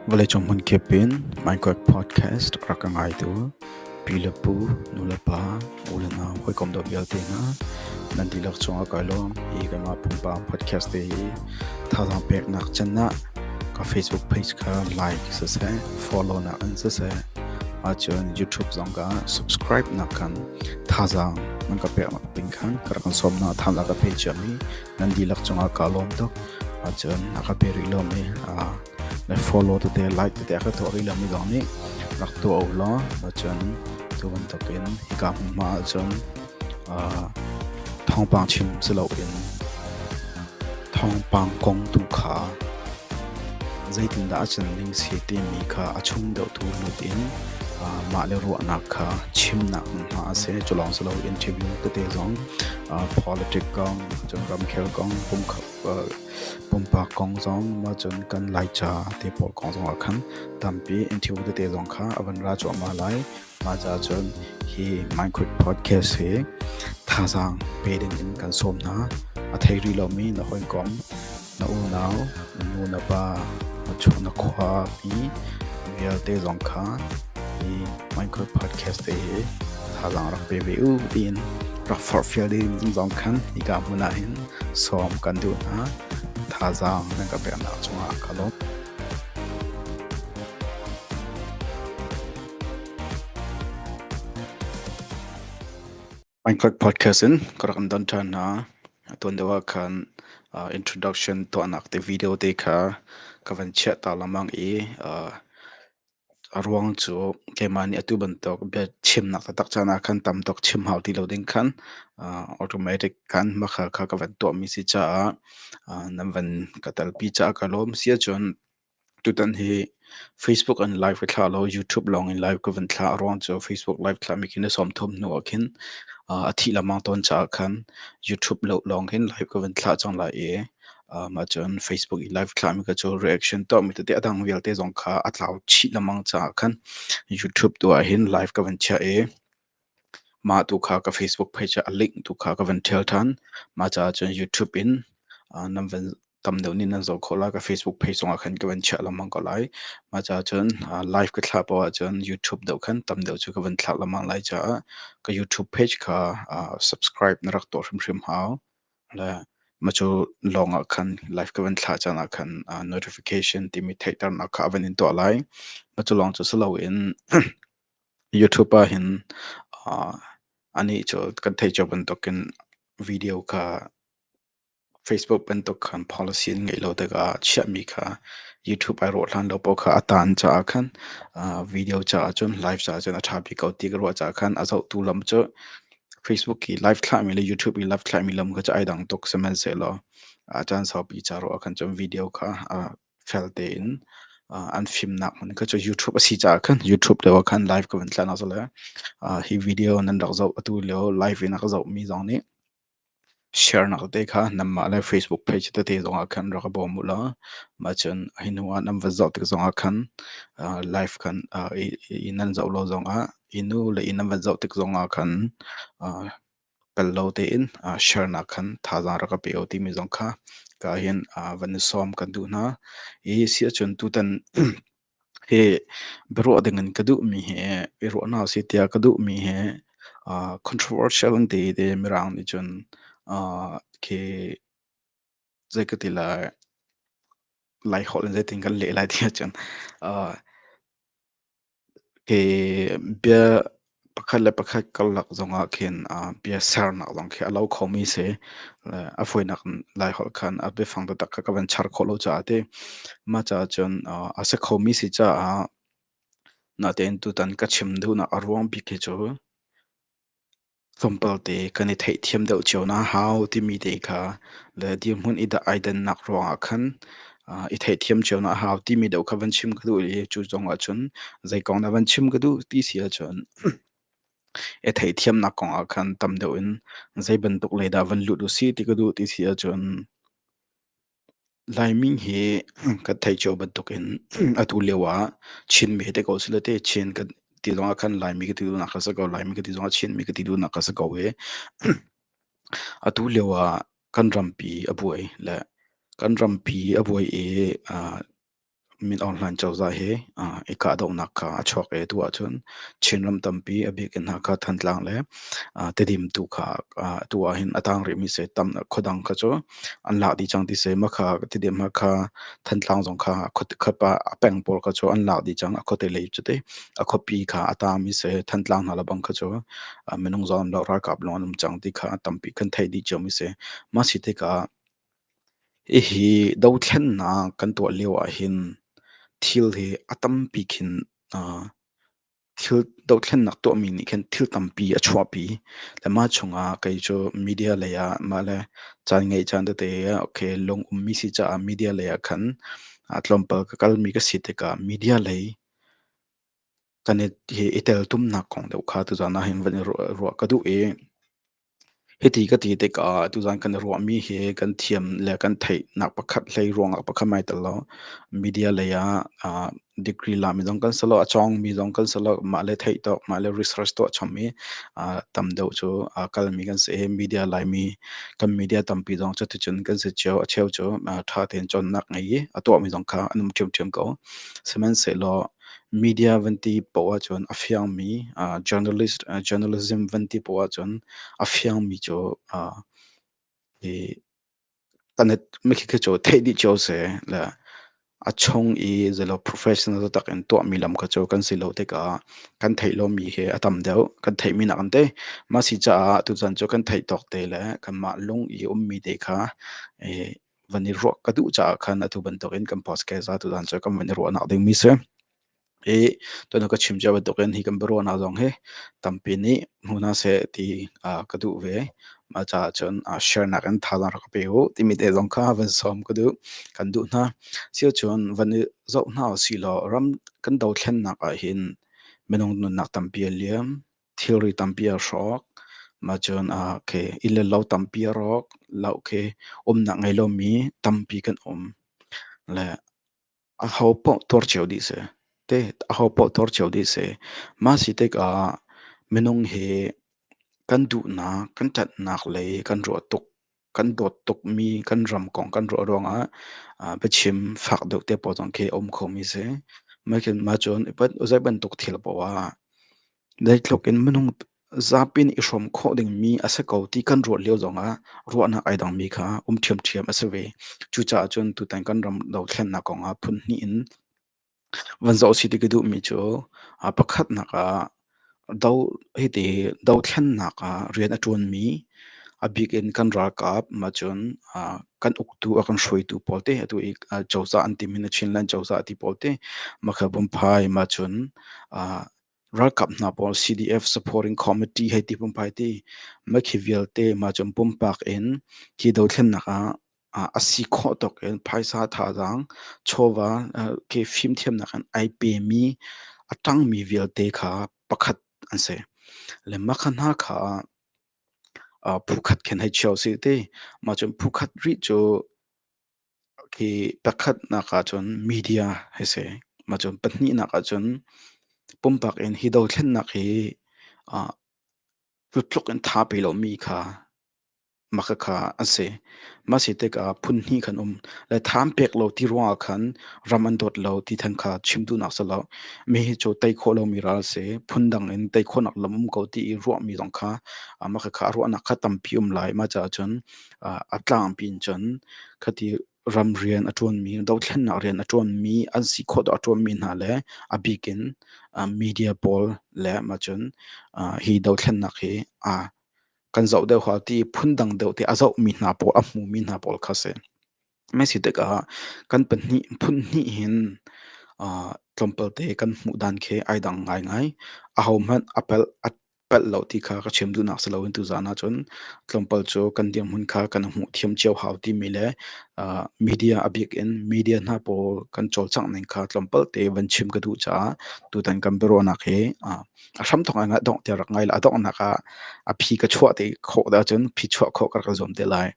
Vawleicung hmunkip in Minecraft podcast rak ka ngaitu pi le pu, nu le pa, u le nau, hawikom dawh vialte hna nan dihlak cungah kai lawm i keimah pumpak podcast te hi thazaang peknak can ah ka Facebook page kha like siseh follow nak in siseh ahcun YouTube zong ka subscribe nak khan thazaang nan ka pek Inn khan ka rak in sawm hna. Thal a ka pe ciam i nan dihlak cungah kaa lawm tuk. Ahcun a ka pe rih lomi aa le follow tete, like tete a ka tuah rih lomi zong nih rak tuah u law ahcun cu bantukin hika hmunhma ahcun aa thawngpang chim si loin thawngpang kong tu kha Zeitindah a can ding si timi kha a chung deuhtu lut in mahle ruahnak kha chimnak hmunhma a si. Culawng si loin interview tete zong politic kong, cun ramkhel kong, pumpak kong zong, mah cun kan Laica te pawl kong zong ah khan tampi interview tete zong kha a van ra cuahmah lai. Mah caahcun hi Minecraft podcast hi thazaang pe dingin kan sawm hna. A thei rih lomi na hawikom, na unau, na nu na pa, na chung na khuapi vialte zong kha hi Minecraft podcast te hi thazaang rak pe ve u tiin rak forhfial ding zong khan hika hmun ah hin sawm kan duh hna. Thazaang nan ka peknak cungah ka lawm. Bangkok podcast in ka rak kan don ṭhan hna. A tuan deuh ah khan uh, introduction tuahnak te video te kha ka van chiah ta lengmang i uh, a ruang cu keimah nih atu bantuk bia chimnak taktak caan ah khan tam tuk chim hau ti lo ding khan uh, automatic khan makhal kha ka van tuahmi si caah uh, nan van ka talpi caah ka lawm si ahcun Tutan hi Facebook an live ka thla lo, YouTube lawng in live ka vun thla. Aruang cu Facebook live thla mi khi na sawm thum hnu ah khin a thih lengmang tawn caah khan YouTube lawng hin live ka vun thla cang lai i ahcun Facebook i live thla mi kha cu reaction tuah mi tete a dang vialte zong kha a tlau chih lengmang caah khan YouTube tu ah hin live ka vun chiah i Mah tu kha ka Facebook page ah a link tu kha ka van ṭhial ṭhan. Mah caah cun YouTube in nan van tam deuh nih nan zoh khawh lai. Ka Facebook page zongah khan ka van chiah lengmang ko lai. Mah caah cun live ka thlah poh ahcun YouTube deuh khan tam deuh cu ka van thlah lengmang lai caah ka YouTube page kha subscribe na rak tuah hrimhrim hau. Le mah cu lawngah khan live ka van thlah caan ah khan notification timi theihternak kha a van in tuah lai. Mah cu lawng cu si loin YouTube ahhin anih cu kan theih cio bantukin video kha Facebook bantuk khan policy an ngeih lo tikah chiahmi kha YouTube ai rawh hlan lo paoh kha a taan caah khan video caah cun live caah cun a ṭha bik ko ti ka ruah caah khan a zohtu lam cu Facebook i live thlahmi le YouTube i live thlahmi lam kha cu ai dang tuk sihmanhsehlaw caan saupi ca ruah ah khan cun video kha fel tein an fimnak man kha cu YouTube a si caah khan YouTube lio ah khan live ka vun tlan zale hi video nan rak zoh atu lio live in a ka zohmi zong nih share nak te kha nanmah le Facebook page tete zongah khan rak i bawm u law mah cun hi hnu ah nan va zoh tik zongah khan live khan i nan zoh lo zongah i nu le i nan va zoh tik zongah khan Kal lo tein ah share nak khan thazaang rak ka peo timi zong kha ka hin ah van i sawm kan duh hna. Hi si ahcun tutan hi biaruah dingin ka duhmi hi i ruahnak a si tiah ka duhmi hi ah controversial an ti i ti mirang nih cun ah khi zei ka ti lai, Laiholh in zeitin kan leh lai ti ahcun, uh, hi bia pakhat le pakhat karlak zongah khin uh, bia sernak zong khi a lo khomi si. Le a fawinak in Laiholh khan a biafang taktak kha ka van char khawh lo caah ti. Mah caah cun uh, a si khomi si caah natein tutan ka chim duhnak a ruang bik hi cu Tlawmpalte kan i theihthiam deuh cio hna hau timi te kha le dirhmun i dah ai dannak ruangah khan uh, i theihthiam cio hna hau timi deuh kha van chim ka duh i cu zongah cun zei kong dah van chim ka duh ti si ahcun i theihthiamnak kongah khan tam deuh in zei bantuk lei dah van lut u si ti ka duh ti si ahcun Laimi hi kan theih cio bantuk in atu lio ah Chin mi hi ti ko si le ti Chin kan ti zong ah khan Laimi ka ti duhnak kha si ko, Laimi ka ti zong ah Chinmi ka ti duhnak kha si ko i atu lio ah kan rampi a buai le kan rampi a buai i Min Aung Hlaing cozah hi i kahdohnak kha a chuak i atu ahcun Chinram tampi a bik in Hakha, Thantlang le Tedim tu kha atu ahhin a tang rihmi seh tam khuadang kha cu an lak dih cang ti seh Makha, Tedim, Hakha, Thantlang zong kha khuapa peng pawl kha cu an lak dih cang a khuate lei cu ti a khuapi kha a tangmi seh Thantlang hna lebang kha cu minung zawn le ralkap lawng an um cang ti kha tampi kan theih dih ciami seh mah si tikah Hihi dothlennak kan tuah lio ahhin thil hi a tampi khin thil dothlennak tuahmi nih khin thil tampi a chuahpi. Le mah chungah kei cu media lei ah mah le caan ngeih caan tete okay lung ummi si caah media lei ah khan tlawmpal ka kalmi ka si tikah media lei kan i hi i teltumnak kong deuh kha tuzan ah hin van i ruah ka duh i hiti ka ti tikah tuzan kan i ruahmi hi kan thiam le kan theihnak pakhat hlei ruangah pakhat mai tel lo media lei ah uh, degree la mi zong kan salo a chong mi zong kan salo mah le theih tawk mah le research to chom mi uh, tam deuh cu uh, kal mi kan si media lai mi kan media tampi zong cu ticun kan si cheu a cheu cu uh, tha ten chon nak ngai a to mi zong kha anum thiam thiam ko sihmanhsehlaw media van ti poh ahcun a fiangmi uh, journalist uh, journalism van ti poh ahcun a fiangmi cu uh, hi tanet mikhi khi cu theih dih cio se le a chung i zelo professional tak in tuahmi lam kha cu kan si lo tikah kan theih lomi hi a tam deuh kan theihmi nak an te ma si caah tuchan cu kan theih tawk te le kanmah lung i ummi te kha van i ruah ka duh caah khan atu bantukin kan podcast a tutan cu kan van i ruahnak ding mi si i tuan ka chim cia bantukin hi kan biaruahnak zong hi tampi nih hmu na se ti ka duh ve ma caah cun share nak in thalan rak pe u timi te zong kha van som ka duh kan duh hna sio cun van i zoh hna u si law ram kan dothlennak ah hin minung nunnak tampi a liam thilri tampi a hrawk. Mah cun ah khi inn le lo tampi a rawk. Lau khi umnak ngei lomi tampi kan um. Le a ho paoh tuar cio dih si. Te a ho paoh tuar cio dih si. Mah si tikah minung hi kan duhnak, kan tatnak lei kan ruah tuk. kan dawt tukmi kan ram kong kan ruah ruangah biachim fak deuh te pawl zong khi a um khomi si. Mah cun zei bantuk thil poah zeitluk in minung zapi nih i hrawm khawh dingmi a si ko ti kan ruah lio zongah ruahnak ai dangmi kha um ṭhiamṭhiam a si ve. Cucaah cun tutan kan ram dothlennak kongah phun hnih in Van zoh si ti ka duhmi cu ah pakhatnak ah do hiti dothlennak ah rian a ṭuanmi, a bik in kan ralkap maa cun ah kan uktu a kan hruaitu pawl te atu i ah cozah an tim hin a Chinland cozah ti pawl te, Makhabumphae maa cun ah Ralkap hna pawl CDF Supporting Committee hei ti pumpai ti mah khi vialte mah cu pumpak in hi dothlennak ah a si khawh tuk in phaisa thazaang chawva khi fimthiamnak in ai pemi a ṭangmi vialte kha pakhat an si. Le mah kha hna kha phu khat khin hei chia usih ti mah cun phu khat rih cu Khi pakhatnak ahcun media hi si. Macun pahnihnak ahcun pumpak in hi dothlennak hi ah tutluk in tha pe lomi kha maka kha an si. Mah si tikah phunhnih khan um. Le tham pek lo ti ruangah khan ram an dawt lo ti than kha chim duhnak si lo. Mi hi cu tei khawh lomi ral a si. Phundang in tei khawhnak lam um ko ti i ruahmi zong kha maka kha ruahnak kha tampi um lai. Mah caah cun a tlangpi in cun khati ram rian a ṭuanmi, dothlennak rian a ṭuanmi, an si khawh dawh a ṭuanmi hna le a bik in media pawl le maa cun hi dothlennak hi kan zoh deuh hoi ti phundang deuh ti a zohmi hna pawl, a hmumi hna pawl kha a si. Mei si tikah kan pahnih phun hnih hin tlawmpal te kan hmuh dan khi ai dang ngaingai. Ahohmanh a pelh a pelh lo ti kha ka chim duhnak si loin tuzan ahcun tlawmpal cu kan dirhmun kha kan hmuh thiam cio hau timi le media a bik in media hna pawl kan cawlcangh ning kha tlawmpal te van chim ka duh caah tutan kan biaruahnak hi a hramthawk ah dongh te rak ngai la. A donghnak ah a phi ka chuah te khawh ahcun phi chuah khawh ka rak ka zuam te lai.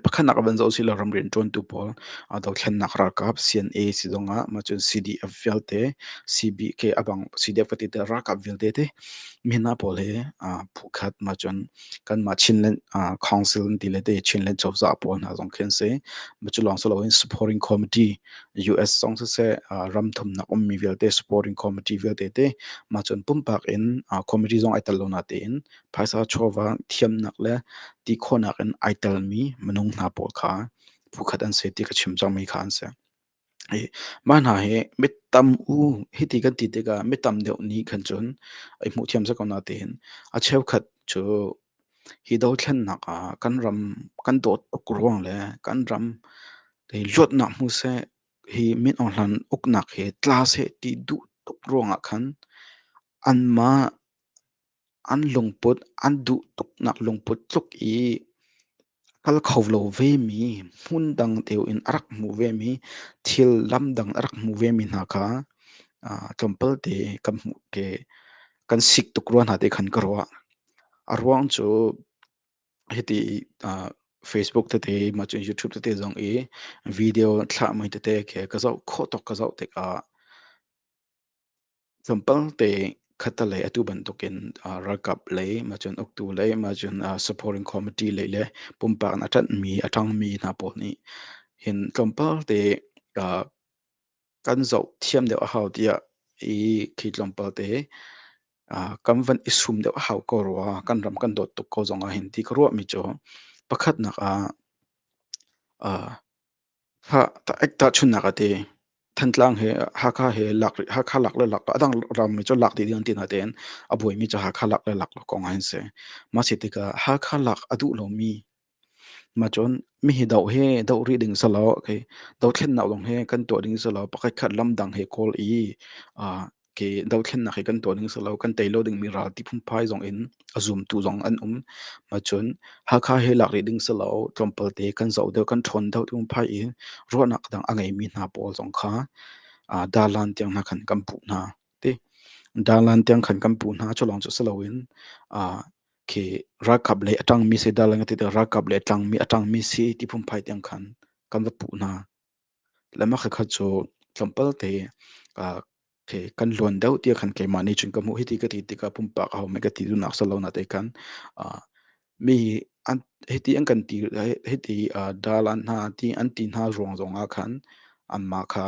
Pakhatnak ah van zoh usih law ram rianṭuantu pawl aa dothlennak ralkap CNA si zong ah mah cun CDF vialte, CBK a bang CDF ka ti teh ralkap vialte te mi hna pawl hi aa phukhat mah cun kanmah Chinland aa council ti le ti Chinland cozah pawl hna zong khi an si. Mah cu lawng si loin supporting committee US zong siseh aa ram thumnak ummi vialte supporting committee vialte te mah cun pumpak in aa committee zong ai tel lo natein phaisa chawva thiamnak le ti khawhnak in ai telmi minung hna pawl kha phukhat an si ti ka chim cangmi kha an si. Mah hna hi mi tam u hiti kan ti tikah mi tam deuh nih khan cun i hmuh thiam seh ko natein a cheukhat cu hi dothlennak ah kan ram kan dawt tuk ruang le kan ram i luatnak hmu seh hi min ohlan uknak hi tla seh ti duh tuk ruangah khan anmah An lungput an duh tuknak lungput tluk i a kal kho lo vemi, hmun dang deuh in a rak hmuh vemi, thil lam dang a rak hmuh vemi hna kha tlawmpalte kan hmuh ke kan sik tuk rua hna ti khan ka ruah. A ruang cu hiti Facebook tete mah cu YouTube tete zong i video thlah mei tete khi ka zoh khawh tuk ka zoh tikah Zampalte khatalei atu bantukin uh, ralkap lei ma cun uktu lei ma cun uh, supporting committee lei le pumpak in a ṭanhmi a ṭangmi hna pawl nih hin tlawmpalte uh, kan zoh thiam deuh a hau tiah i khi tlawmpalte uh, kan van i sum deuh a hau ko rua kan ram kan dawt tuk ko zong ah hin ti ka ruahmi cu pakhatnak ah uh, Ek tahchunhnak a ti. Thantlang he, Hakha he lak rih, Hakha lak le lak, a dang rammi cu lak dih dih an ti na tein a buaimi cu Hakha lak le lak kong an si. Ma si tikah Hakha lak a duh lomi ma cun mihi doh he doh rih ding selaw, okay, dothlennak lawng he kan tuah ding selaw pakhat khat lamdang he kawl i ke dothlennak hi kan tuah ding si lo kan tei lo dingmi ralti phunphai zong in a zumtu zong an um ma cun Hakha he lak rih ding si lo tlawmpal te kan zoh deuh kan ṭhawn deuh tung phai i ruahnak dang a ngeimi hna pawl zong kha uh, Darlan tiang hna khan kan puh hna ti Darlan tiang khan kan puh hna culawng cu si loin uh, khi rakap le atangmi si Darlan ti rakap le tlangmi atangmi si ti phunphai tiang khan kan va puh hna Le mah khat cu tlawmpal te ah ke kan luan deuh tiah khan keimah nih cun ka hmuh hiti ka ti tikah pumpak ahohmanh ka ti duhnak a si lo na te khan ah mi an hiti an kan ti le hiti ah dal an hna ti an ti hna ruang zongah khan anmah kha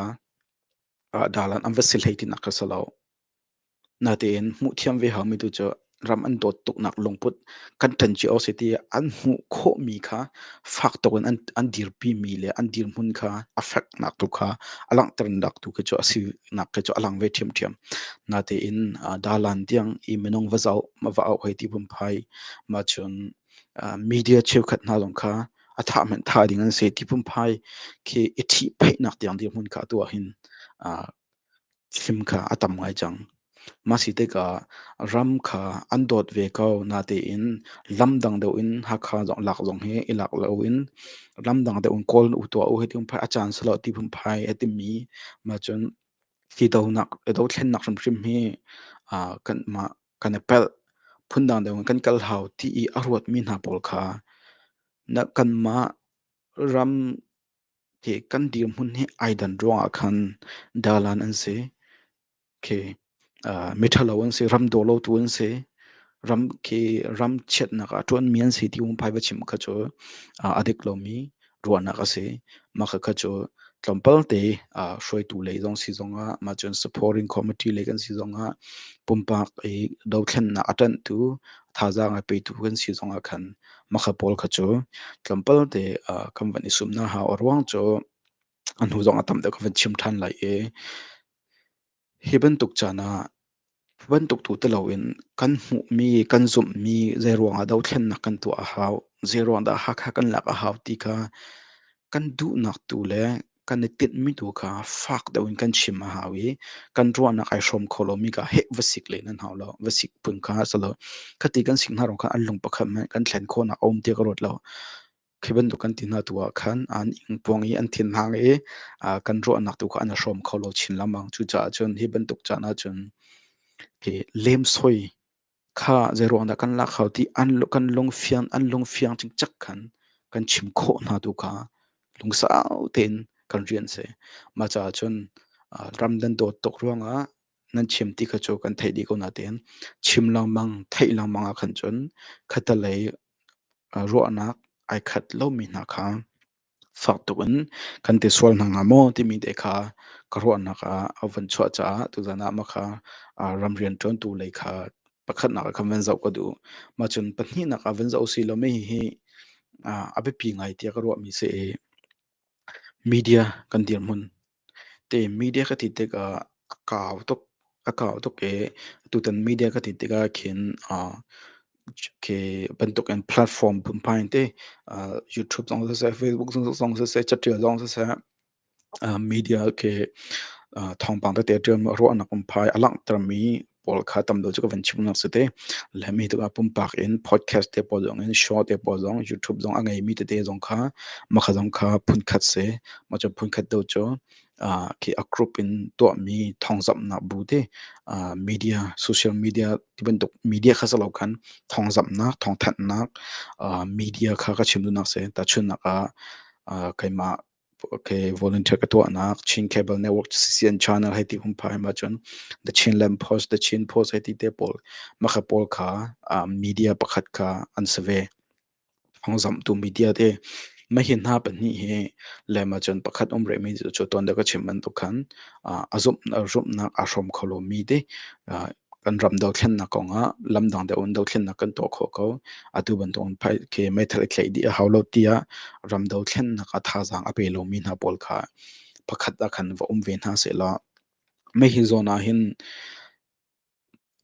ah dal an an va si hlei tinak ka si lo. Natein hmuhthiam ve hau mi tu cu ram an dawt tuk nak lungput kan ṭhen cio a si ti ah an hmuh khawh mi kha fak tuk in an dirpi mi le an dirhmun kha a fek nak tu kha a langhter nak tu khi cu a si nak khi cu a lang ve ṭhiamṭhiam. Natein Dalan tiang i minung va zoh ma va auh hoi ti phunphai ma cun media cheukhat hna zong kha a thah hmanh thah ding an si ti phunphai khi i ṭhihpheih nak tiang dirhmun kha atu ah hin Thlim kha a tam ngai cang. Mah si tikah ram kha an dawt ve ko. Natein lam dang deuh in Hakha zong lak zong hi i lak loin ram dang deuh in kawl u tuah u hi tiin phai a caan si lo ti phunphai a timi maa cun hi dohnak i dothlennak hrimhrim hi aa kan mah kan i pelh. Phundang deuh in kan kal hau ti i a ruatmi hna pawl kha na kanmah ram Hi kan dirhmun hi ai dan ruangah khan dalan an si. Khi uh, miṭhalo an si, ram dawlotu an si. Ram khi ram chiatnak ah ṭuanmi an si ti um phai va chim kha cu uh, a dik lomi ruahnak a si. Mah kha cu tlawmpal te uh, hruaitu lei zong si zongah, mah cun supporting committee lei kan si zongah, pumpak i dothlennak a ṭanhtu, thazaang a petu kan si zongah khan Makha pawl kha cu tlawmpal te ah kan van i sum hna hau. A ruang cu a hnu zong a tam deuh kan van chim ṭhan lai i hi bantuk caan ah hi bantuk tu ti loin kan hmuhmi, kan zumhmi zeiruang ah dothlennak kan tuah a hau, zeiruang dah Hakha kan lak a hau ti kha kan duhnak tu le kan i tinhmi tu kha fak deuh in kan chim a hau i kan ruahnak ai hrawm kho lomi kha heh va sik len an hau lo va sik phun kha a si lo khati kan sik hna rong kha an lung pakhat hmanh kan thlen khawhnak a um ti ka ruat lo khi bantuk kan ti hna tu ah khan an ing puang i an thin hang i uh, kan ruahnak tu kha an hrawm kho lo chin lamang cucaah cun hi bantuk caan ah cun ke lem soi Kha zeiruang dah kan lak hau ti kan lungfiang an lungfiang cikcek khan kan chim khawh hna tu kha lungsau tein kan rian a si. Mah caah cun ram nan dawt tuk ruangah nan chim ti kha cu kan theih dih ko nain chim lengmang, theih lengmang ah khan cun khatalei ruahnak ai khat lomi hna kha Fak tuk in kan ti sual hna hnga maw timi te kha ka ruahnak ah a van chuah caah tuzan ah mah kha ah ram rianṭuantu lei kha pakhatnak ah khan van zoh ka duh. Mah cun pahnihnak ah van zoh u silaw mei hihi ah a biapi ngai tiah ka ruahmi a si i media kan dirhmun. Ti media ka ti tikah a kau tuk. A kau tuk i tutan media ka ti tikah khin ah khi bantukin platform pumpai in ti ah YouTube zong siseh, Facebook zong siseh, catial zong siseh ah media khi ah thawngpang tete ṭialmi ruahnak pumpai a langhtermi pawl kha tam lo cu ka van chimnak cu te le mi tu ah pumpak in podcast te pawl zong in show te pawl zong youtube zong a ngei mi tete zong kha makha zong kha phunkhat se ma cu phunkhat do cu uh, khi a group in tuah mi thongzamnak bu te uh, media social media tibantuk media kha salo khan thongzamnak thongthannak uh, media kha ka chimdunak se ta chunnak a uh, keima volunteer ka tuahnak Chin Cable Network CCN channel hei ti hum phaim ahcun The Chinland Post, The Chin Post hei ti te pawl makha pawl kha media pakhat kha an si ve. Hongzamtu media te mahin hna pahnih hi lem ahcun pakhat um rehmi cu tuan da ka chim bantuk khan a zumhnak a hrawm kho lomi ti kan ram dothlennak kong ah lamdang deuh in dothlennak kan tuah khawh ko. Atu bantuk in phai ke meithal i tlaih dih a hau lo tiah ram dothlennak a thazaang a pe lomi hna pawl kha pakhat ah khan va um ve hna sehlaw mei hi zawn ah hin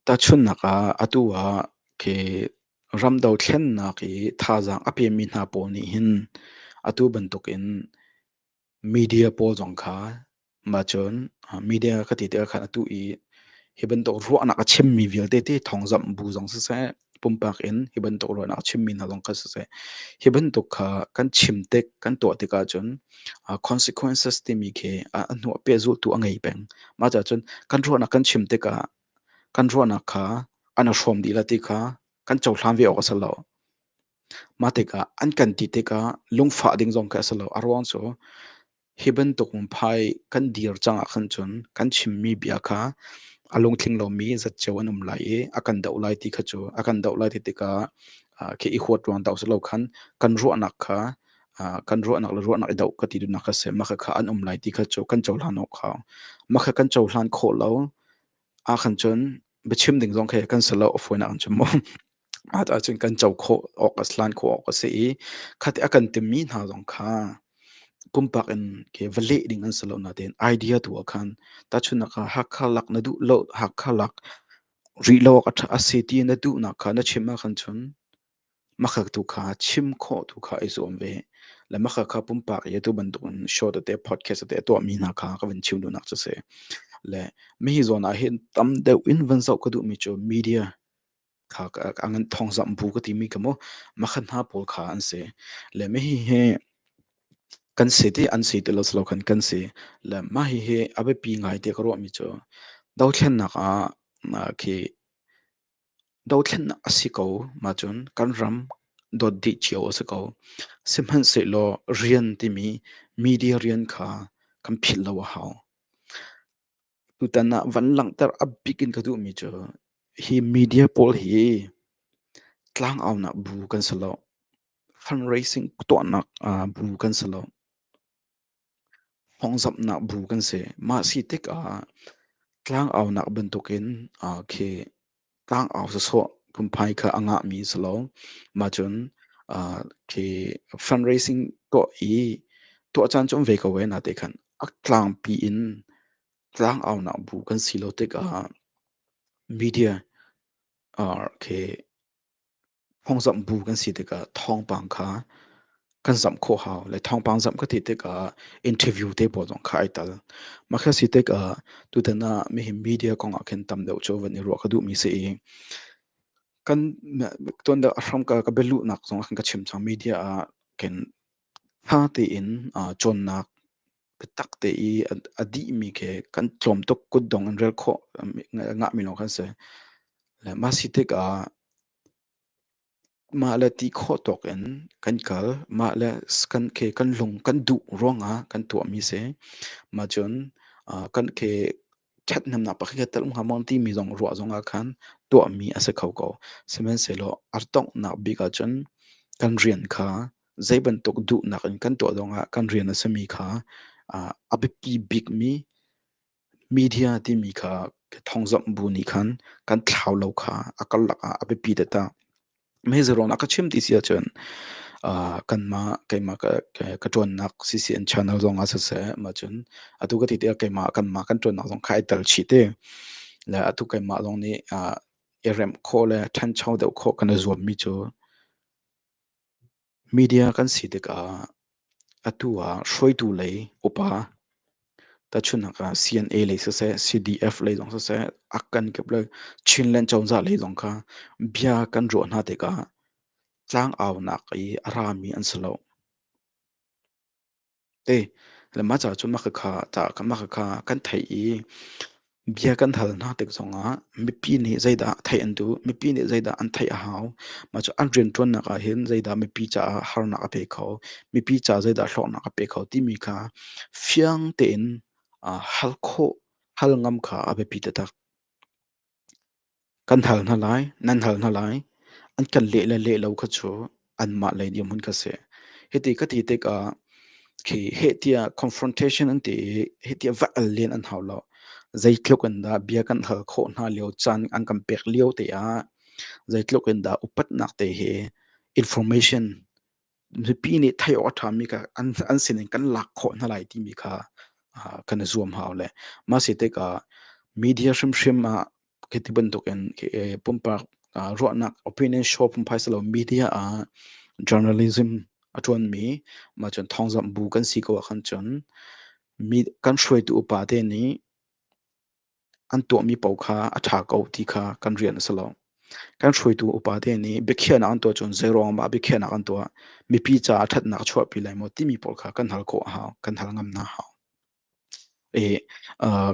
tahchunnak ah atu ah ke ram dothlennak i thazaang a pemi hna pawl nih hin atu bantuk in Media pawl zong kha mah cun media ka ti tikah khan atu i hi bantuk ruahnak a chimmi vialte ti thawngzamh bu zong siseh, pumpak in hi bantuk ruahnak a chimmi hna zong kha siseh, hi bantuk kha kan chim tik, kan tuah tik ahcun consequences timi khi a hnu ah pehzulhtu a ngei peng. Mah cahcun kan ruahnak kan chim tikah kan ruahnak kha an i hrawm dih le ti kha kan cohlan ve awk a si lo. Mah tikah an kan ti tikah lungfah ding zong khi a si lo. A ruang cu hi bantuk phai kan dir cang ahkhan cun kan chimmi bia kha a lungtling lomi zat cio an um lai i a kan doh lai ti kha cu a kan doh lai ti tikah khi i huat ruang tawk si lo khan kan ruahnak kha kan ruahnak le ruahnak i doh ka ti duhnak kha a si. Mah khakha an um lai ti kha cu kan cohlan awk hau. Mah kha kan cohlan khawh lo. ahkhan cun biachim ding zong khi kan sal a fawinak in cun maw ahcun cun kan co khawh awk a hlan khawh awk a si i khati a kan timmi hna zong kha pumpak in ke va leh ding an si lo nain idea tu ah khan tahchunhnak ah hakha lak na duh lo hakha lak rih lo awk a si ti na duh nak kha na chim ahkhan cun Makhat tu kha chim khawh tu kha i zuam ve. Le makhat kha pumpak i atu bantukin show tete, podcast tete a tuahmi hna kha ka van chim duhnak cu a si. Le mihi zawn ah hin tam deuh in van zoh ka duhmi cu media kha a ngan thawngzamh bu ka timi kha maw makhat hna pawl kha an si. Le mihi hi kan si ti an si ti lo silo khan kan si. Le mahi hi a biapi ngai tiah ka ruahmi cu dothlennak ah khi Dothlennak a si ko ahcun kan ram dawt dih cio a si ko. Sihmanhsehlaw rian timi media rian kha kan philh lo a hau. Tutan ah van langhter a bik in ka duhmi cu hi media pawl hi tlangaunak bu kan si lo. Fundraising tuahnak bu kan si lo. Hnawngzamhnak bu kan si. Mah si tikah tlangaunak bantukin ah khi tlangau sawsawh phunphai kha a ngahmi a si lo. Mah cun ah khi fundraising tuah i tuah caan cu um ve ko ve na te khan a tlangpi in tlangaunak bu kan si lo tikah media ah khi Phungzamh bu kan si tikah thawngpang kha kan zamh khawh hau. Le thawngpang zamh ka ti tikah interview te pawl zong kha ai tel. Mah kha si tikah tutan ah hihi media kong ah khin tam deuh cu van i ruah ka duhmi si i kan tuan deuh a hramka ka bialuhnak zong ah khan ka chim cang. Media ah khin tha tein cawnnak Biatak te i a dihmi khi kan tlawm tuk kutdong in rel khawh ngahmi lawng kan si. Le mah si tikah mah le ti khawh tawk in kan kal. Mah le kan lung kan duh ruangah kan tuahmi si. Mahcun kan khi Ṭhathnemnak pakhatkhat tel um hnga maw timi zong ruah zongah khan tuahmi a si kho ko. Sihmanhsehlaw a donghnak bik ahcun kan rian kha zei bantuk duhnak in kan tuah zongah kan rian a simi kha ah a biapi bikmi media timi kha thawngzamh bu nih khan kan thlau lo kha a karlak ah a biapi taktak. Mehezi ruang na ka chim ti si ahcun, ah, kanmah keimah ka ka ṭuannak sisi an channel zongah siseh, mah cun atu ka ti tikah keimah kanmah kan ṭuannak zong kha ai tel chih ti. Le atu keimah zong nih, ah, i remh khawh le ṭhancho deuh khawh kan i zuammi cu Media kan si tikah atu ah hruaitu lei upa tahchunhnak ah CNA lei siseh, CDF lei zong siseh, a kan kip le Chinland cozah lei zong kha bia kan ruah hna tikah tlangaunak i a rami an si lo. Ei, lemmaca cu maka kha tah ka maka kha kan theih i bia kan hal hna tik zongah mipi nih zeidah theih an duh, mipi nih zeidah an theih a hau, mah cu an rianṭuannak ahhin zeidah mipi caah harnak a pe kho, mipi ca zeidah hlawknak a pe kho timi kha fiang tein, ah hal khawh, hal ngam kha a biapi taktak. Kan hal hna lai, nan hal hna lai. An kan leh le leh lo kha cu anmah lei dirhmun kha a si. Hiti ka ti tikah khi hehtiah confrontation an ti i hehtiah va al len an hau lo. Zeitluk in dah bia kan hal khawh hna lio caan an kan pek lio te ah zeitluk in dah upatnak te hi information mipi nih theih awk a ṭhami kha an an sinin kan lak khawh hna lai timi kha ah, kan i zuam hau le mah si tikah media hrimhrim ah khi ti bantukin khi, eh, pumpak ah, ruahnak opinion show pumpai si lo media ah journalism a ṭuanmi mah cun thawngzamh bu kan si ko ahkhan cun mi kan hruaitu upa te nih an tuahmi paoh kha a ṭha ko ti kha kan rian a si lo. Kan hruaitu upate nih biakhiahnak an tuah cun zeiruang dah biakhiahnak an tuah? Mipi caah ṭhatnak a chuahpi lai maw timi pawl kha kan hal khawh a hau, kan hal ngam hna a hau. I uh,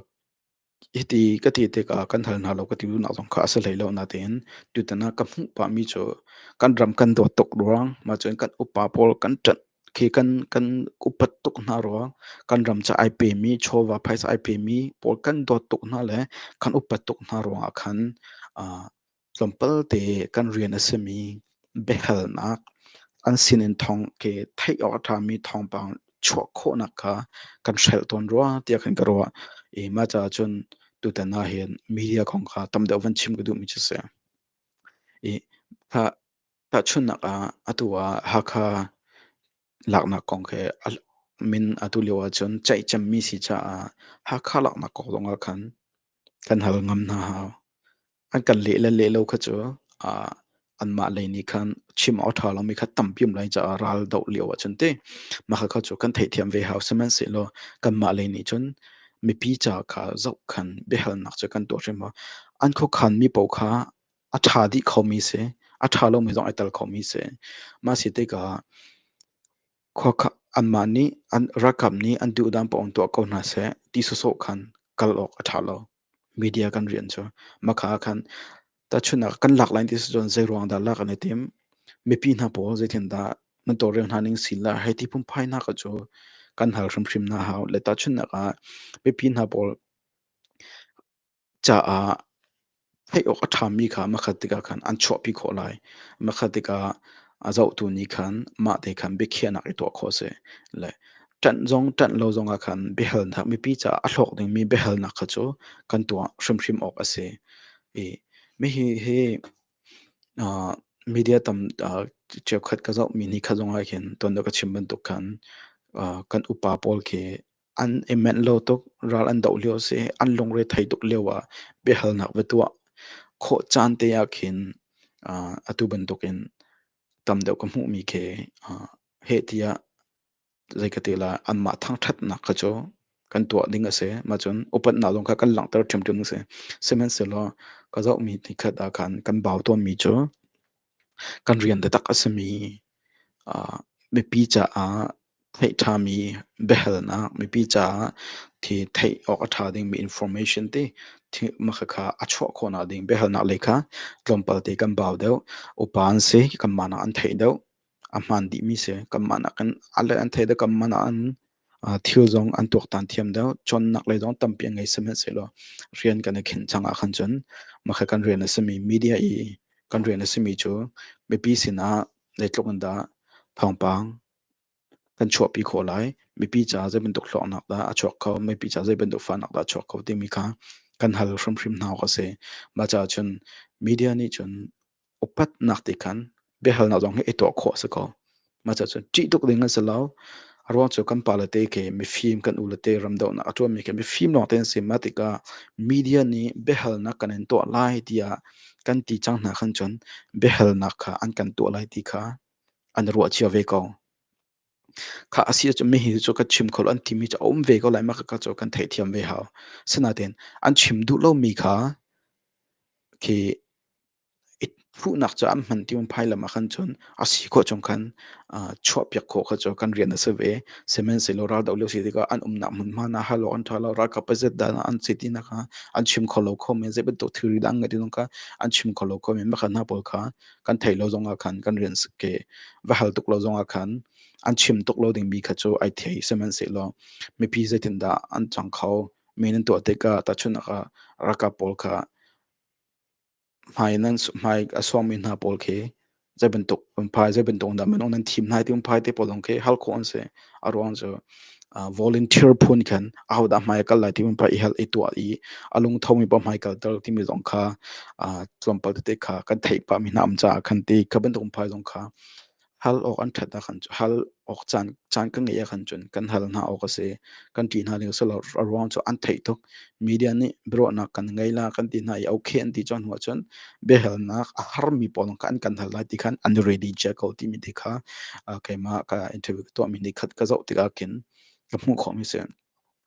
hiti ka ti tikah kan hal hna lo ka ti duhnak zong kha a si hlei lo natein tutan ah ka hmuh pahmi cu kan ram kan dawt tuk ruang, mah cun kan upa pawl kan ṭanh khi kan kan upat tuk hna rua kan ram cu ai pemi chawva phaisa ai pemi pawl kan dawt tuk hna le kan upat tuk hna ruangah khan tlawmpal te kan rian a simi biahalnak an sinin thawng ke theih awk a ṭhami thawngpang chuah khawhnak kha kan hrelh tawn rua tiah kan ka ruah i mah caah cun tutan ah hin media kong kha tam deuh van chim ka duhmi cu a si i Tahchunhnak ah, atu ah Hakha laknak kong khi a min atu lio ahcun ceihcemmi si caah Hakha laknak kong zongah khan kan hal ngam hna hau. An kan leh le leh lo kha cu ah anmah lei nih khan chim awk ṭha lomi kha tampi um lai caah ral doh lio ahcun ti mahka kha cu kan theihthiam ve hau. Sihmanhsehlaw kanmah lei nih cun mipi ca kha zoh khan biahalnak cu kan tuah hrim hau. An khuakhanmi paoh kha A ṭha dih khomi si. A ṭha lomi zong ai tel khomi si. Mah si tikah khuakhan anmah nih an ralkap nih an duhdan paoh in tuah ko hna seh ti sawsawh khan kal awk a ṭha lo. Media kan rian cu. Maka ah khan tahchunhnak kan lak lai ti si cun zeiruang dah lak an i tim? Mipi hna pawl zeitindah nan tawlrel hna ning si lai hei ti phunphainak cu kan hal hrimhrim hna hau. Le tahchunhnak ah mipi hna pawl caah theih awk a ṭhami kha makhat tikah khan an chuahpi khawh lai. Makhat tikah a zohtu nih khan mahte khan biakhiahnak i tuah khawh a si. Le ṭanh zong ṭanh lo zongah khan biahalnak mipi caah a hlawk dingmi biahalnak kha cu kan tuah hrimhrim awk a si. I hihi hi uh, media tam uh, cheukhat ka zohmi ni kha zong ah hin ton ka chim bantuk khan uh, kan upa pawl khi An i menh lo tuk. Ral an doh lio a si. An lungre thei tuk lio ah biahalnak va tuah khawh caan te ah khin uh, atu bantuk in tam deuh ka hmuhmi khi uh, heh tiah zei ka ti lai anmah thangthatnak kha cu kan tuah ding a si. Mah cun upatnak zong kha kan langhter ṭhiamṭhiam a si. Sihmanhsehlaw ka zohmi nikhat ah khan kan bau tawnmi cu Kan rian taktak a simi mipi caah theih ṭhami biahalnak, mipi caah thi theih awk a ṭha dingmi information ti khakha a chuah khawhnak ding biahalnak le kha tlawmpal te kan bau deuh. Upa an si kanmah nak an theih deuh. A hmaan dihmi si kanmah nakin a le an theih deuh kanmah nakin. Thil zong an tuaktan thiam deuh. Cawnnak lei zong tampi a ngei sihmanhsehlaw rian kan i khenh cang ahkhan cun makhe kan rian a simi media i kan rian a simi cu mipi sinah zeitluk in dah thawngpang kan chuahpi khawh lai, mipi caah zeibantuk hlawknak dah a chuak kho, mipi caah zeibantuk fahnak dah a chuak kho timi kha kan hal hrimhrim hna awk a si. Mah caah cun media nih cun upatnak ti khan biahalnak zong hi i tuah khawh a si ko. Mah cun ṭih tuk ding an si lo. A ruang cu kan pale te khi mifim kan u le te ramdohnak a ṭuanmi khi mifim lawng te an si. Mah tikah media nih biahalnak kan in tuah lai tiah kan ti cang hna khan cun biahalnak kha an kan tuah lai ti kha an ruah cio ve ko. Khah a si ahcun mihi cu kan chim kho lo an timi cu a um ve ko lai makaka cu kan theihthiam ve hau. Asinain an chim duh lomi kha khi i thuhnak cu an hman tiang phailam ahkhan cun a si khawh chung khan chuahpiak khawh kha cu kan rian a si ve. Sihmanhsehlaw raldoh lio si tikah an umnak hmunhma na hal awk an ṭha lo, ralkap paizet dah dah an si ti na kha an chim kho lo khomi zeibantuk thilri dah an ngeih ti zong kha an chim kho lo khomi makha hna pawl kha kan theih lo zong ah khan kan rian ke va hal tuk lo zong ah khan an chim tuk lo ding mi kha cu ai thei sihmanhsehlaw mipi zeitindah an cang kho mi nan tuah tikah tahchunak ah raka pawl kha hmai nan hmai a suang mi hna pawl khi zei bantuk um phai zei bantuk dah minung nan thim nai ti um phai te pawl zong khi hal khawh an si a ruang cu volunteer phun khan ahodah hmai kal lai timi pa i hel i tuah i a lungthomi pa hmai kalter timi zong kha tlawmpal tete kha kan theih pah mi hna am caah khan ti kha bantuk phai zong kha hal awk an ṭhat ah khan hal awk caan caan ka ngeih ah khan cun kan hal hna awk a si kan ṭih hna ning a si lo a ruang cu an theih tuk media nih biaruahnak kan ngei la kan ti hna i okay an ti cun hnu ahcun biahalnak a harmi pawl kha an kan hal lai ti khan an ready Jacko timi ti kha keimah ka interview ka tuahmi nih khat ka zoh tikah khin ka hmuh khawhmi si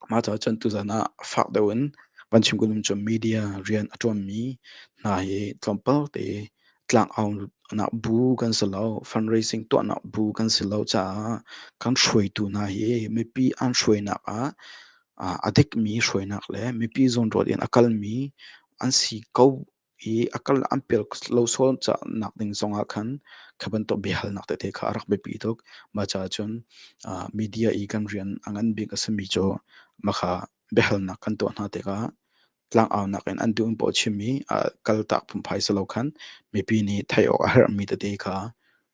mah caah cun tuzan ah fak deuh in van chim kunum cu media rian a ṭuanmi hna hi tlawmpal te tlang aunak bu kan si lo fundraising tuahnak bu kan si lo caah kan hruaitu hna hi mipi an hruainak ah a dikmi hruainak le mipi zawnruat in a kalmi an si ko i a kal an pial lo sual nak ding zongah khan kha bantuk biahalnak tete kha a rak biapi tuk. Mah caah cun media i kan rian a ngan bik a simi cu mah kha biahalnak kan tuah hna tikah Tlangaunak in an duh in paw chim i a kaltak phunphai si lo khan mipi nih theih awk a herhmi tete kha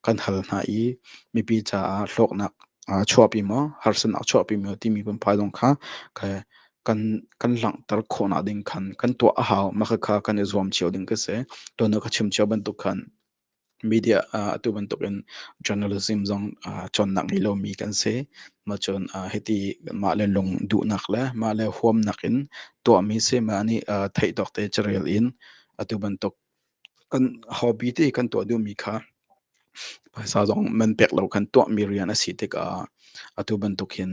kan hal hna i mipi caah hlawknak aa chuahpi maw, harsanak chuahpi maw timi phunphai zong kha kan kan langhter khawhnak ding khan kan tuah a hau. Mah khakha kan i zuam cio ding ka si. Tuan a ka chim cio bantuk khan. Media ah atu bantukin journalism zong cawnnak ngei lomi kan si. Macun hiti mah le lung duhnak le mah le huamnak in tuahmi si mah nih theih tawk te cu rel in atu bantuk kan hobby te kan tuah duhmi kha phaisa zong man pek lo kan tuahmi rian a si tikah atu bantuk hin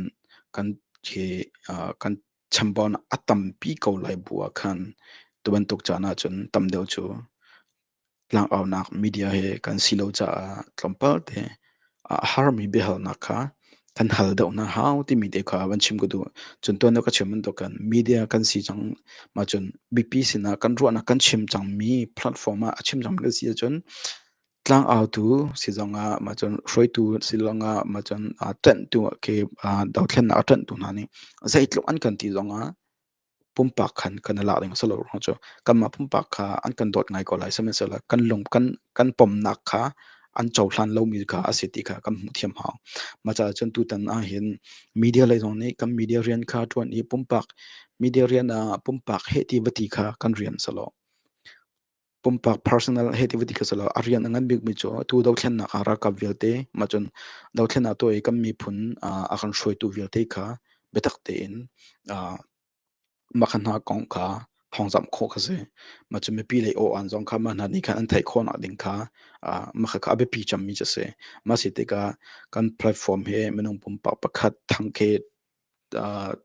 kan hi kan chambon a tampi ko lai bu ah khan tu bantuk caan ahcun tam deuh cu Tlangaunak media hi kan si lo caah tlawmpal te a harmi biahalnak kha kan hal deuh hna hau timi te kha van chim ka duh. Cun tuan deuh ka chim bantukin media kan si cang maa cun biapi sinah kan ruahnak kan chim cangmi platform ah a chim cangmi kan si ahcun tlangautu si zongah maa cun hruaitu si zongah maa cun aa ṭanhtu khi dothlennak a ṭanhtu hna nih zeitluk an kan ti zongah pumpak khan kan i lak ding a si lo ruang cu kanmah pumpak kha an kan dawt ngai ko lai sihmanhsehlaw kan lung kan kan pomnak kha an cohlan lomi kha a si ti kha kan hmuh thiam hau macaah cun tutan ah hin media lei zong nih kan media rian kha ṭuan i pumpak media rian ah pumpak heh ti va ti kha kan rian selaw pumpak personal he ti vati kha sala a rian a ngan bikmi cu tu dothlennak ah ralkap vialte ma cun dothlennak tuah i kan miphun a kan hruaitu vialte kha biatak tein makhan hna kong kha thawngzamh khawh kha si ma cu mipi lei aw an zong kha ma hna nih khan an theih khawhnak ding kha makha kha a biapi cangmi cu si ma si tikah kan platform he minung pumpak pakhat thangkhe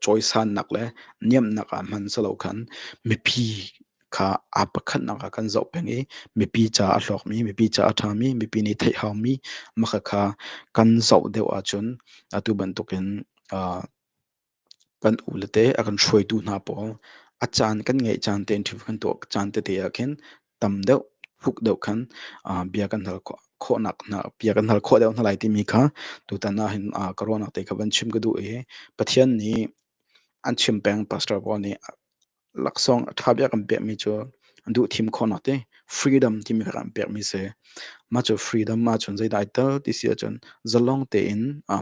cawisannak le niamhnak ah hman si lo khan mipi kha aa pakhatnak ah kan zoh peng i mipi ca a hlawkmi, mipi ca a ṭhami, mipi nih theih haumi makha kan zoh deuh ahcun atu bantukin kan ulete a kan hruaitu hna pawl a caan kan ngeih caan te in ṭhium kan tuah caan tete ah khin tam deuh fuk deuh khan bia kan hal khawhnak hna bia kan hal khawh deuh hna lai timi kha tutan ah hin ka ruahnak te kha van chim ka duh i Pathian nih an chim peng pastor Paul nih laksawng a ṭha bia kan pekmi cu an duh thim khawhnak ti freedom timi kha kan pekmi si mah cu freedom mah cun zeidai tal ti si ahcun zalong tein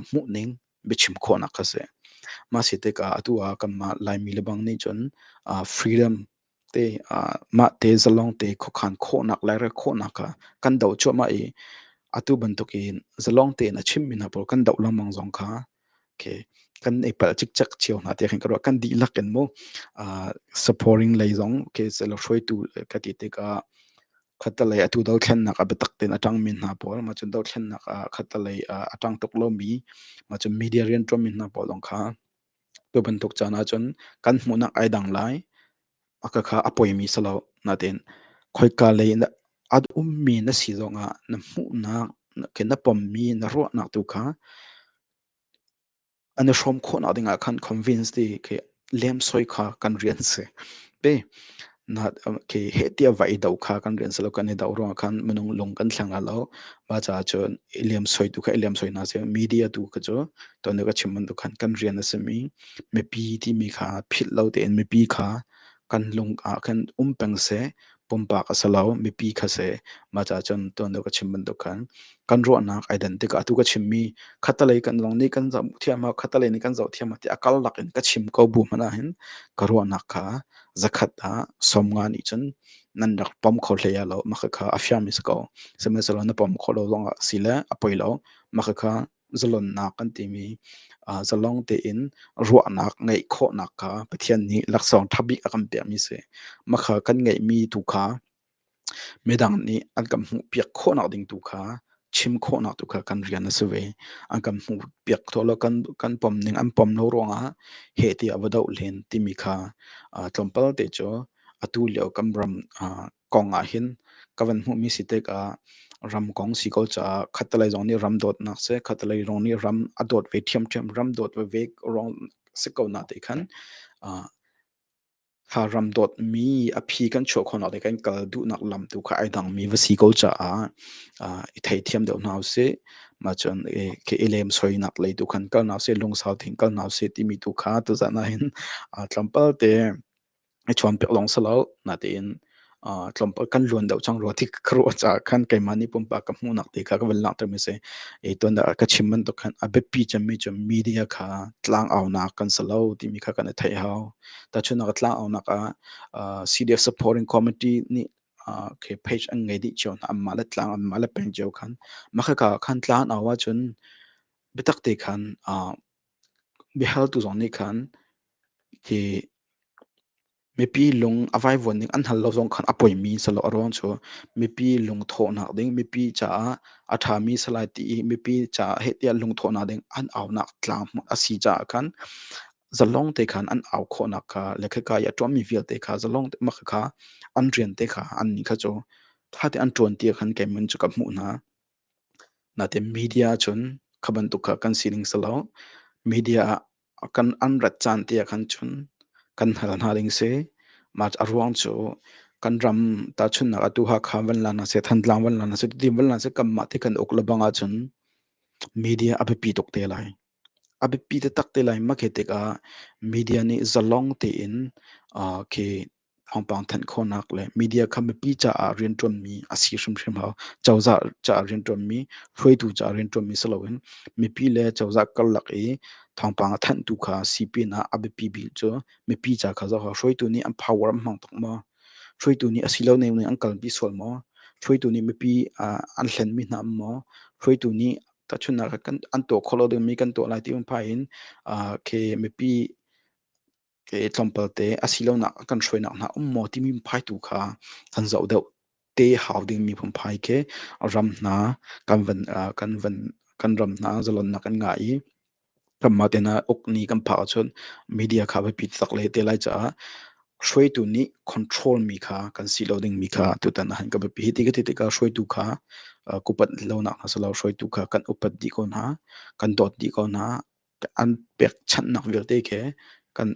hmuhning biachim khawhnak kha si mah si tikah atu ah kanmah Laimi lebang nih cun freedom mahte zalongte khuakhan khawhnak le rel khawhnak kha kan do cuahmah i atu bantukin zalongte in a chimmi hna pawl kan doh lengmang zong kha okay, kan i palh cikcek cio hna tiah khin ka ruah. Kan dihlak in mu supporting lei zong okay, selo hruaitu ka ti tikah khatalei atu dothlennak a biatak tein a ṭangmi hna pawl mahcun dothlennak ah khatalei a ṭang tuk lomi mahcun media rianṭuanmi hna pawl zong kha Tu bantuk caan ahcun kan hmuhnak ai dang lai. A ka kha a poimi si lo. Nain khoika lei in a ummi na si zongah na hmuhnak ke na pommi na ruahnak tu kha an i hrawm khawhnak dingah khan convince ti khi lemsoi kha kan rian si. Ti heh tiah va i do kha kan rian salo kan i do ruang khan minung lung kan thlang a lo ma caah cun i liam soi tu kha i liam soi na se media tu kha cu ton ka chim man tu khan kan rian a simi mipi timi kha phit lo tein mipi kha kan lung ah khan um peng se pumpak a salo mipi kha se ma caah cun ton ka chim man tu khan kan ruahnak identity ka tu ka chimmi khatalei kan long ni kan zoh thiama khatalei ni kan zoh thiama ti akal lakin ka chim ko bu mana hin ka ruahnak kha Zakhat ah som nga nih cun nan rak pom kho hlei ah lo makhakha a fiangmi si ko. Sihmanhsehlaw na pom khawh lo zongah si le a poi lo makhakha zalonnak kan timi uh, zalong tein ruahnak ngeih khawhnak kha Pathian nih laksawng ṭha bik a kan pekmi si. Makha kan ngeihmi tu kha Midang nih an kan hmuhpiak khawhnak ding tu kha chim khawhnak tu kha kan rian a si ve. An kan hmuhpiak tawh lo, kan kan pom ning an pom lo ruangah heh tiah va doh len timi kha uh, tlawmpal te cu atu lio kan ram uh, kong ah hin ka van hmuhmi si tikah ram kong si ko caah khatalei zong nih ram dawtnak si, khatalei zong nih ram a dawt ve ṭhiamṭhiam, ram dawt ve ve rong si ko na te khan uh, Kha ram dawtmi a phi kan chuah khawhnak le kan kal duhnak lam tu kha ai dangmi va si ko caah ah i theithiam deuh hna usih. Mah cun i ke i lem soinak lei tu khan kal hna usih, lungsau tein kal hna usih timi tu kha tuzan ahhin ah tlawmpal te i chuan piak lawng si lo. Natein tlawmpal kan luan deuh cang rua ti ka ruah caah khan keimah nih pumpak ka hmuhnak ti kha ka van langhtermi a si. I tuan ah ka chim bantuk khan a biapi cemmi cu media kha tlangaunak kan si lo timi kha kan i theih hau. Tahchunhnak ah tlangaunak ah CDF supporting committee nih okay page an ngei dih cio hna anmah le tlang anmah le peng cio khan. Mah khaka khan tlanau ahcun biatak te khan biahaltu zong nih khan hi Mipi lung a vaivuan ning an hngal lo zong khan a poimi selaw a ruang cu mipi lungthawhnak ding, mipi caah a ṭhami si lai ti i mipi caah heh tiah lungthawhnak ding an aunak tlang a si caah khan zalong te khan an au khawhnak kha le khika i a ṭuanmi vialte kha zalong te mak kha an rian te kha annih kha cu ṭha te an ṭuanti ah khan keimin cu ka hmuh hna. Natin media cun kha bantuk kha kan sining selaw media ah Kan rat caan tiah kan chun kan hal hna ding si. Mah a ruang cu kan ram tahchunnak atu Hakha van lan asi, Thantlang van lan asi, Tutin van lan asi, kanmah ti kan uk lebang ahcun media a biapi tuk te lai. A biapi taktak te lai. Mah khi tikah media nih zalong tein khi thawngpang thanh khawhnak le media kha mipi caah rianṭuanmi a si hrimhrim hau. Cozah caah rianṭuanmi, hruaitu caah rianṭuanmi si loin mipi le cozah karlak i thawngpang a thanhtu kha sipin ah a biapi bik cu mipi ca kha zoh hau. Hruaitu nih an power an hmang tuk maw? Hruaitu nih a silo ning in an kalpi sual maw? Hruaitu nih mipi ah an hlenmi hna um maw? Hruaitu nih tahchunhnak ah an tuah khawh lo dingmi kan tuah lai ti um pah in, ah kei mipi ke tlawmpalte asilonak kan hruainak hna um maw timi phai tu kha kan zoh deuh te hau dingmi phunphai khi ram hna kan van kan van kan ram hna zalonnak kan ngah i kanmah tehna uk ni kan phak ahcun media kha va pit tak le te lai caah hruaitu nih control mi kha kan si lo ding mi kha tutan han ka pi hiti ka ti ka hruaitu kha kupat lonak na salo hruaitu kha kan upat di ko na kan dot di ko na an pekchanhnak vialte khi kan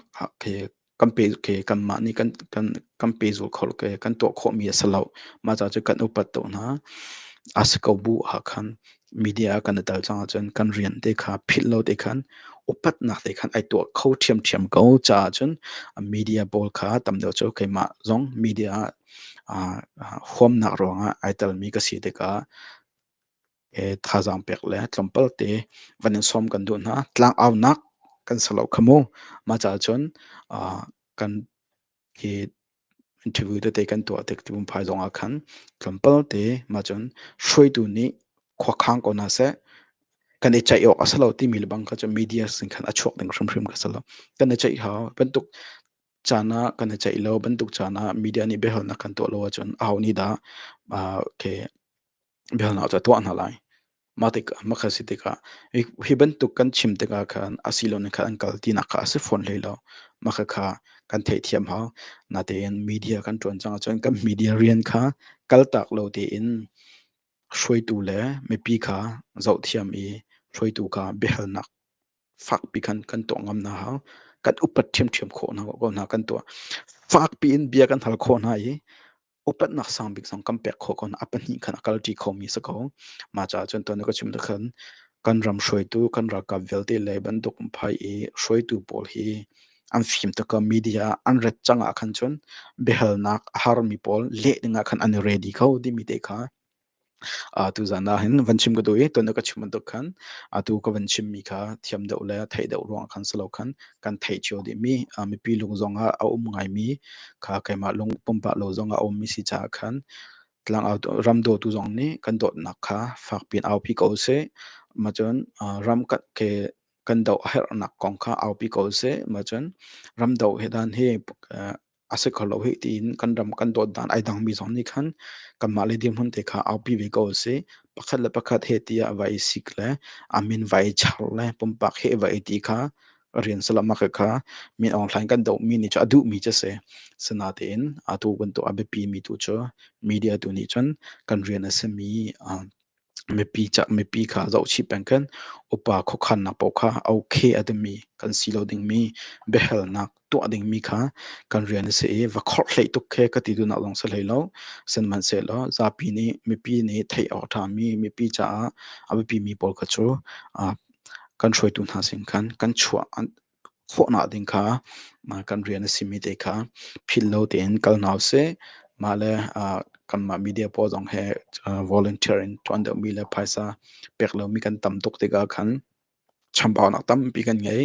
kan pe khi kanmah nih kan kan kan pe zul kho khi kan tuah khawhmi a si lo. Mah caah cu kan upat tuk hna. A si ko bu ah khan media ah kan i tel cang ahcun kan rian te kha philh lo te khan upatnak te khan ai tuah kho ṭhiamṭhiam ko. Caah cun media pawl kha tam deuh cu keimah zong media ah huamnak ruangah ai telmi ka si tikah thazaang pek le tlawmpal te van in sawm kan duh hna. Tlangaunak kan si lo kha mu. Mah caah cun kan hi interview tete kan tuah tik ti phai zong ah khan tlawmpal te mah cun hruaitu nih khua khang ko hna seh kan i ceih awk a si lo timi lebang kha cun media sin khan a chuak ding hrimhrim kha si lo. Kan i ceih hau. Bantuk caan ah kan i ceih lo. Bantuk caan ah media nih biahalnak kan tuah lo ahcun aho nih dah biahalnak cu a tuah hna lai. Mah tikah mah kha a si tikah hi hi bantuk kan chim tikah khan a si lo nih khan an kal tinak kha a si fawn hlei lo. Mah kha kha kan theihthiam hau. Natein media kan ṭuan cang ahcun kan media rian kha kaltak lo tein hruaitu le mipi kha zohthiam i hruaitu kha biahalnak fakpi khan kan tuah ngam hna hau. Kan upat ṭhiamṭhiam khawh hna ko hna kan tuah. Fakpi in bia kan hal khawh hna i upatnak sangbik zong kan pek khawh ko a pahnih khan a kalṭi khomi si ko. Mah caah cun tuan na ka chim tu khan kan ram hruaitu kan ralkap vialte le bantuk phai i hruaitu pawl hi an fim taka media an ret cang ah khan cun biahalnak a harmi pawl leh ding ah khan an i ready kho timi te kha Ah, tuzan ah hin van chim ka duh i tuan a ka chim bantuk khan atu ka van chimmi kha thiam deuh le theih deuh ruangah khan si lo khan kan theih cio dihmi ah mipi lung zongah a um ngaimi kha keimah lung pumpak lo zongah a ummi si caah khan tlangau ram dawtu zong nih kan dawtnak kha fak piin aupi ko seh. Macun ah ram kan ke kan doh a herhnak kong kha aupi ko seh. Macun ram doh hi dan hi eh, a si kho lo hi tiin kan ram kan dawt dan ai dangmi zong nih khan kanmah le dirhmun te kha aupi ve ko si pakhat le pakhat he ti ah vai sik le amin vai char le pumpak he vai ti kha rian salamaka kha min online kan do mi ni chu a duh mi che se sinatein atu kan to a biapi mi tu chu media tu nih cun kan rian a simi Mipi cah mipi kha zohchih peng kan upa khuakhannak paoh kha a okay a dimi kan si lo dingmi biahalnak tuah dingmi kha kan rian a si i va khorhhlei tuk he ka ti duhnak zong si hlei lo. Sihmanhsehlaw zapi nih mipi nih theih awk a ṭhami mipi caah a biapimi pawl kha cu kan hruaitu hna sin khan kan chuah chuahnak ding kha kan rian a simi te kha phillo tein kal hna usih. Mah le kanmah media pawl zong he volunteer in ṭuan deuhmi le phaisa pek lomi kan tam tuk tikah khan chambaunak tampi kan ngei.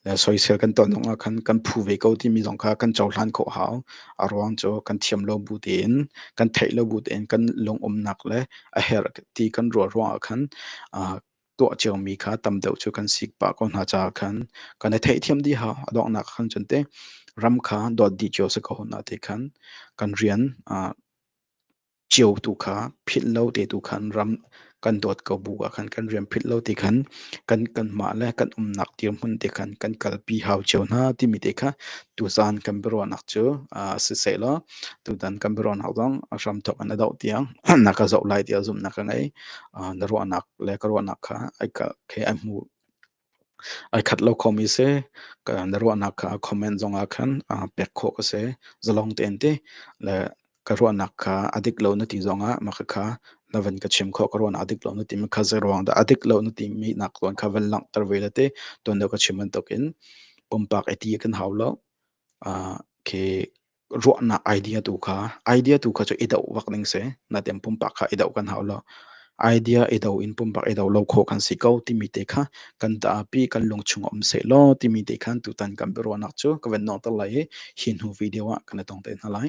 Le soisel kan ton zongah khan kan phu ve ko timi zong kha kan cohlan khawh hau. A ruang cu kan thiam lo bu tein, kan theih lo bu tein kan lungumnak le a herh ti kan ruah ruangah khan tuah ciomi kha tam deuh cu kan sik pah ko hna caah khan kan i theihthiam dihah a donghnak khan cun teh ram kha dawt dih cio si ko hna ti khan kan rian uh, cio tu kha philh lo te tu khan ram kan dawt ko bu ah khan kan rian philh lo ti khan kan kan mah le kan umnak tir hmun te khan kan kalpi hau cio hna timi te kha tu zan kan biruahnak cu si sei lo tu dan kan biruahnak zong a hram thok an a doh tiang na ka zoh lai ti a zumnak ka ngei na ruahnak le ka ruahnak kha ai hmu ai khat lo khomi si na ruahnak kha comment zongah khan pek khawh ka si zalong tein ti le ka ruahnak kha a dik lo na ti zongah mah kha na van ka chim khawh ka ruahnak a dik lo na timi kha zei ruang dah a dik lo na timi nak tuan kha van langhter ve le ti tuan deuh ka chim bantukin pumpak i ti kan hau lo okay ruahnak idea tu kha idea tu kha cu i do bak ding si natin pumpak kha i do kan hau lo idea i do in pumpak i do lo kho kan si ko timi te kha kan taapi kan lung chung um se law timi te khan tutan kan biaruahnak cu ka van nawng ter lai i hi hnu video ah kan i tong te hna lai